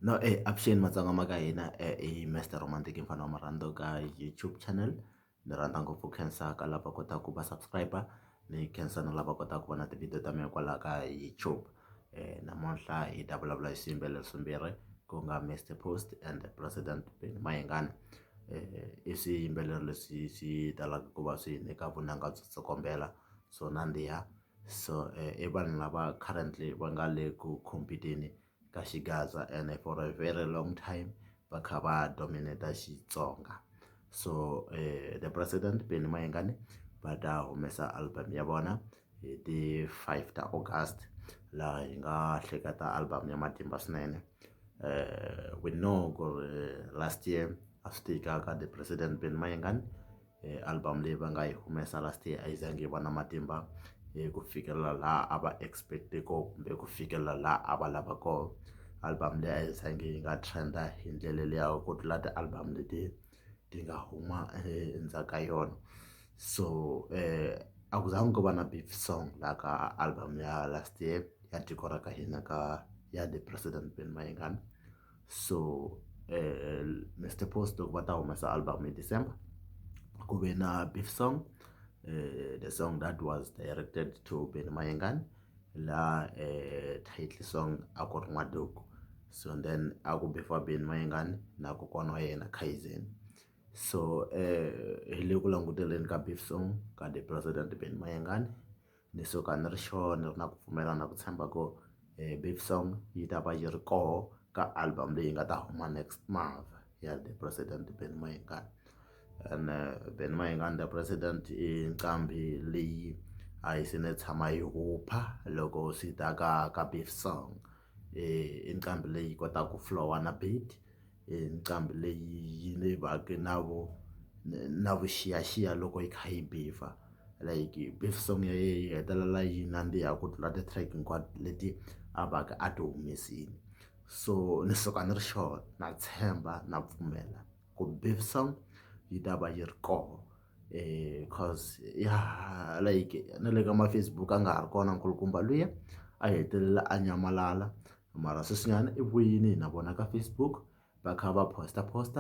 No e avuxeni matsonga ma ka hina i Mister Romantic mfana wa marhandu ka YouTube channel ni rhandza ngopfu khensa ka lava kotaka ku va subscribe ni khensa na lava kotaka ku vona ti-video ta mina kwala ka YouTube namuntlha hi ta vulavula hi swiyimbeleri swimbirhi ku nga Mister Post and President Benny Mayengani i swiyimbeleri leswi swi talaka ku va swi nyika vunanga byo tsokombela so nandziha so i vanhu lava currently va nga le ku compete-ni. ka xigaza and for a very long time va kha va dominate xitsonga so um the president benny mayengani va ta humesa album ya vona hi ti five ta august laha hi nga hleketa album ya matimba swinene um we know ku ri last year a swi tika ka the president benny mayengani album leyi va nga yi humesa last year a yi zangi yi va na matimba ku fikelela laha a va expect ko kumbe ku fikelela laha a va lava ko album leyi a yi zangi yi nga trend hi ndlela liya ku tlula ti-album leti ti nga huma endzhaku ka yona so a ku zangi ku va na beef song la ka album ya last year ya tiko ra ka hina ka ya the president Benny Mayengani. so eh, mr post va ta humesa album hi december ku ve na beef song eh, the song that was directed to beni mayengani la eh, title song a ku ri n'waduku so then a ku befa beni mayengani na kokwana wa yena kaizen so eh, hi le ku languteleni ka beef song ka the president beni mayengani ni suka ni ri sure ni ri na ku pfumela na ku tshemba ku beef song yi ta va yi ri koho ka album leyi nga ta huma next month ya the president Benny Mayengani and Benny Mayengani the president i nqambi leyi a yi se ni tshama yi hupha loko swi ta ka ka beef song i nqambi leyi kotaka ku flow-a na beat. hi nqambi leyi yi ni va ka na vu na vuxiyaxiya loko yi kha yi bhebha like beef song ya yena yi hetelela yi nandziha ku tlula ti track hinkwato leti a va ka a ti humesile so ni suka ni ri sure na tshemba na pfumela ku beef song yi ta va yi ri koho coz ya ha like na le ka ma Facebook a nga ha ri kona nkulukumba luya a hetelela a nyamalala. mara sweswinyana i vuyini hi na vona ka Facebook va kha va post post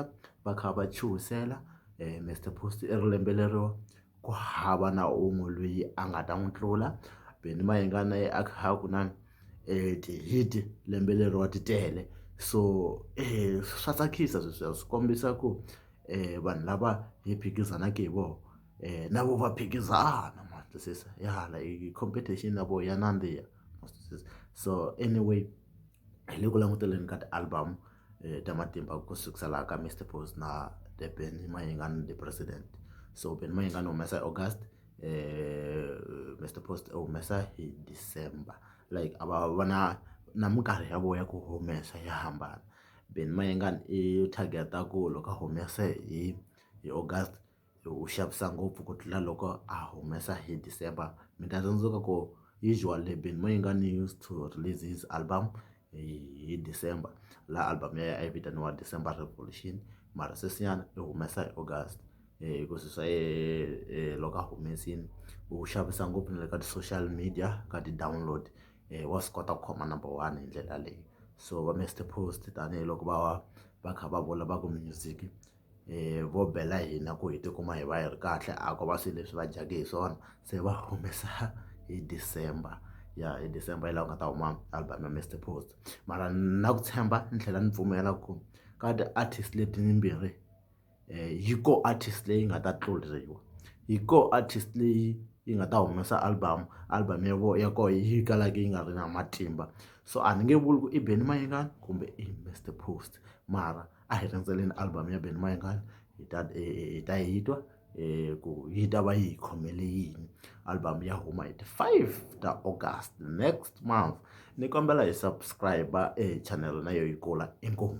va kha va chuhisela Mister Post i ri lembe lero ku hava na un'we loyi a nga ta n'wi tlula Benny Mayengani na yena a kha a ku na ti-hit lembe leri wa ti tele so swa tsakisa sweswiya swi kombisa ku vanhu lava hi phikizanaka hi vona na vona va phikizana ma twisisa ya hala i competition ya vona ya nandziha. so anyway hi le ku languteleni ka ti-album eh, ta matimba ku sukisa laha ka mr pos na the ben mayingani the president so ben mayingani humesa august eh, mr post u humesa hi december like a va va na na minkarhi ya voya ku humesa ya hambana ben mayingani i targeta ku loko humese hi hi august wu xavisa ngopfu ku tlula loko a humesa hi December mi ta tsundzuka ku usual Durban mo yi nga ni used to release his album hi hi December laha album ya yena a yi vitaniwa December Revolution mara sweswinyana i humesa hi August ku swi swa yena loko a humesile wu xavisa ngopfu na le ka ti-social media ka ti-download wa swi kota ku khoma number one hi ndlela yaleyo so va Mister Post tanihiloko va va kha va vula va ku music. vo bela hina ku hi tikuma hi va hi ri kahle a ko va swilo leswi va dyaka hi swona se va humesa hi December ya hi December hi laha ku nga ta huma album ya Mister Phoza mara na ku tshemba ni tlhela ni pfumela ku ka ti-artist leti timbirhi yi ko artist leyi nga ta tluriwa yi ko artist leyi yi nga ta humesa album album ya vona ya koho yi kalaka yi nga ri na matimba so a ni nge vuli ku i Benny Mayengani kumbe i Mister Phoza mara. a hi rindzeleni album ya Benny Mayengani hi ta hi ta hi twa ku yi ta va yi khomele yini album ya huma hi ti five ta August next month ni kombela hi subscribe e channel na yo yi kula inkomu.